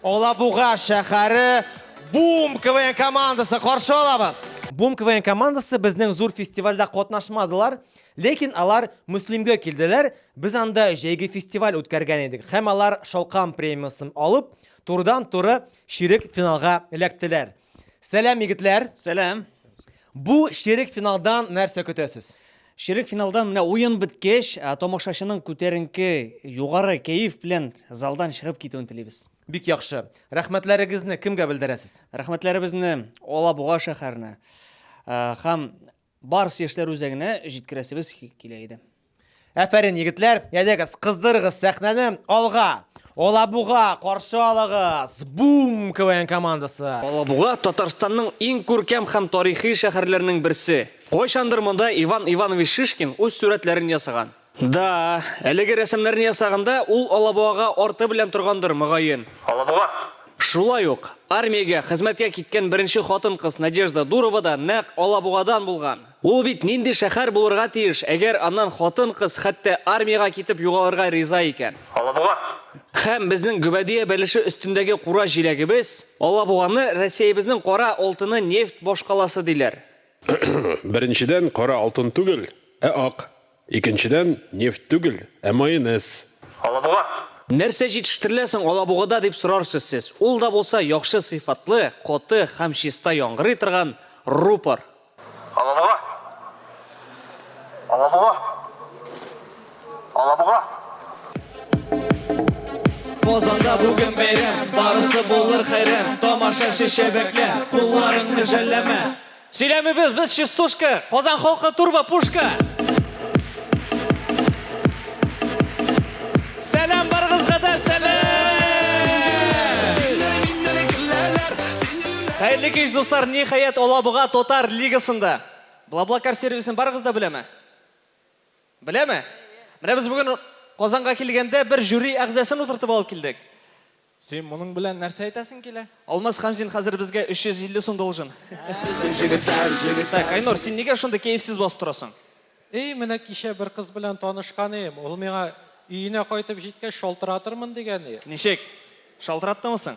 Алабуга шәһәре Бум КВН командасы каршы алабыз. Бум КВН командасы безнең зур фестивальдә катнашмадылар, ләкин алар Муслимгә килделәр. Без анда җәйге фестиваль үткәргән идек. Һәм алар Шалкам премиясын алып, турыдан-туры чирек финалга эләктеләр. Сәлам, егетләр! Сәлам! Бу ширек финалдан нәрсә көтәсез? Ширек финалдан менә уен беткәч, тамашачының күтәренке, югары кәеф белән залдан чыгып китүен телибез. Бик яхшы. Рәхмәтләрегезне кемгә белдерәсез? Рәхмәтләребезне Алабуга шәһәренә һәм Барс яшьләр үзәгенә җиткерәсебез килә иде. Әфәрин, егетләр, ядегез, кыздырыгыз сәхнәне, алга! Алабуга, каршы алыгыз! Бум, КВН командасы! Алабуга, Татарстанның иң күркәм һәм тарихи шәһәрләренең берсе. Кайчандыр монда Иван Иванович Шишкин үз сурәтләрен ясаган. Да, әлеге рәсемнәрне ясаганда ул Алабугага арты белән торгандыр, мөгаен. Алабуга! Шулай ук, армиягә хезмәткә киткән беренче хатын-кыз Надежда Дурова да нәкъ Алабугадан булган. Ул бит нинди шәһәр булырга тиеш, әгәр аннан хатын-кыз хәтта армиягә китеп югалырга риза икән? Алабуга! Һәм безнең Гөбәдия бәлеше өстендәге кура җиләгебез, Алабуганы Россиябезнең кара алтыны, нефть башкаласы диләр. Беренчедән, кара алтын түгел, ә ак. Икенчедән, нефть түгел, ә майонез. Алабуга! Нәрсә җитештерелә соң Алабугада, дип сорарсыз сез. Ул да булса, яхшы сыйфатлы, каты һәм чиста яңгырый торган рупор. Алабуга! Алабуга! Алабуга! Казанда бүген бәйрәм, барысы булыр хәйран, тамаша шешә бәклә, кулларыңны жәлләмә. Сөйләмибез без частушка, Казан халкы турбо пушка. Сәлам барыгызга да сәлам! Хәерле кич, дуслар, ниһаять Алабуга татар лигасында. Блаблакар сервисын барыгыз да беләме? Беләме? Менә без бүген Казанга килгәндә бер жюри әгъзасын утыртып алып килдек. Син моның белән нәрсә әйтәсең килә? Алмаз Хәмзин хәзер безгә 350 сум должен. Так, Айнур, син нигә шундый кәефсез басып торасың? Эй, менә кичә бер кыз белән танышкан ием, ул миңа, Өенә кайтып җиткәч шалтыратырмын, дигән и. Ничек? Шалтыраттымы соң?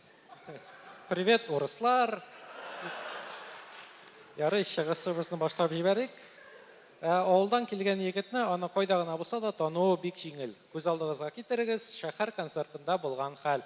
Привет, урыслар! Ярый, чыгышыбызны башлап җибәрик. Ә авылдан килгән егетне аны кайда гына булса да тануы бик җиңел. Күз алдыгызга китерегез, шәһәр концертында булган хәл.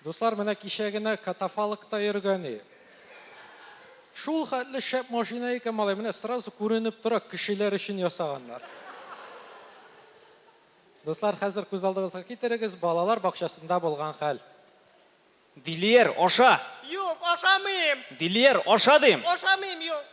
Дуслар, менә кичә генә катафалкта йөргәни. Шул хәтле шәп машина икән, малай, менә сразу күренеп тора, кешеләр өчен ясаганнар. Дуслар, хәзер күз алдыгызга китерегез балалар бакчасында булган хәл. Дилиер, аша! Юк, ашамыйм! Дилиер, аша дим! Ашамыйм, юк!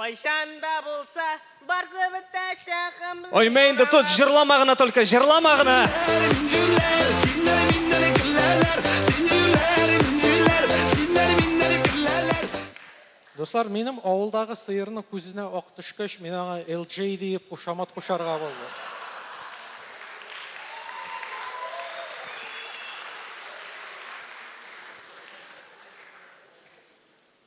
Кайчан да булса барсы бетәчәк гамьле. Оймә инде тот, җырлама гына только, җырлама гына! Дуслар, минем авылдагы сыерның күзенә ак төшкәч, мин аңа LJ диеп кушамат кушарга булдым.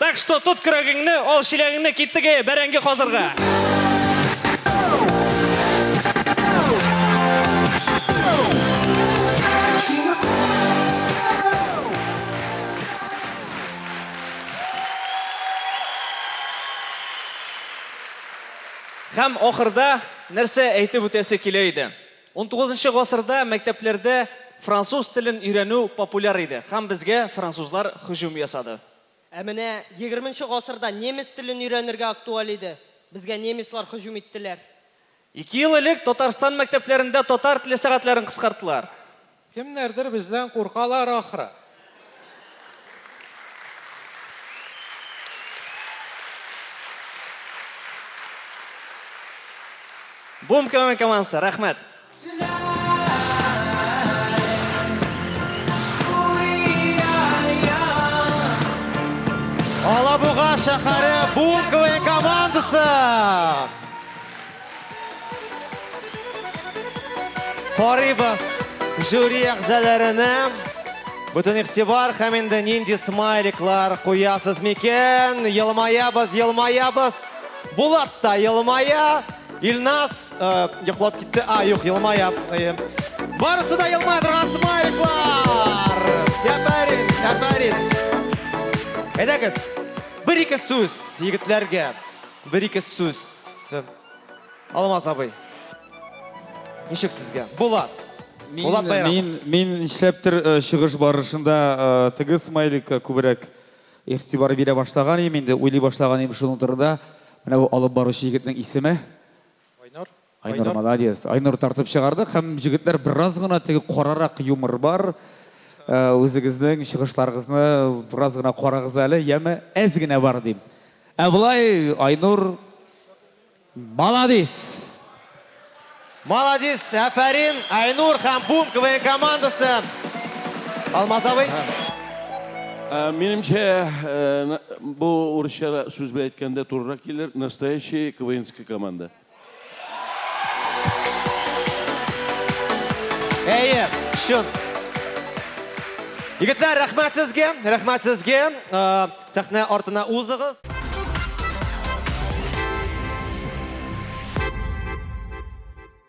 Так что тот көрәгеңне, ал чиләгеңне киттеге бәрәңге казырга. Һәм ахырда нәрсә әйтеп үтәсе килә иде? Унтугызынчы гасырда мәктәпләрдә француз телен өйрәнү популяр иде һәм безгә французлар һөҗүм ясады. Ә менә егерменче гасырда немец телен өйрәнергә актуаль иде, безгә немецлар һөҗүм иттеләр. Ике ел элек Татарстан мәктәпләрендә татар теле сәгатьләрен кыскарттылар. Кемнәрдер бездән куркалар ахры. Бум КВН командасы, рәхмәт! Алабуга шәһәре Бум КВН командасы! Карыйбыз жюри әгъзаларына. Бүтін ихтибар һәм инде нинди смайликлар куясыз микән? Елмаябыз, елмаябыз. Булат та елмая. Илнас э, йоклап китте. А, юк, елмая. Э, барысы да елмая торган смайликлар. Әфәрин, әфәрин. Әйдәгез, бер-ике сүз егетләргә. Бер-ике сүз. Алмаз абый. Ничек сезгә? Булат. Булат Байрам. Мин, мин нишләптер э, чыгыш барышында э, теге смайликка күбрәк игътибар бирә башлаган идем инде, уйлый башлаган идем шуның турында. Менә бу алып баручы егетнең исеме. Айнур. Айнур молодец. Айнур тартып чыгарды һәм җегетләр бераз гына теге карарак юмор бар. Үзегезнең чыгышларыгызны бераз гына карагыз әле, яме әз генә бар дим. Ә болай Айнур молодец. Молодец, әфәрин, Айнур һәм Бум КВН командасы. Алмаз абый. Минемчә, бу урысча сүз белән әйткәндә турырак килер, настоящий КВНская команда. Әйе, шын. Егетләр, рәхмәт сезгә, рәхмәт сезгә. Э, сәхнә артына узыгыз.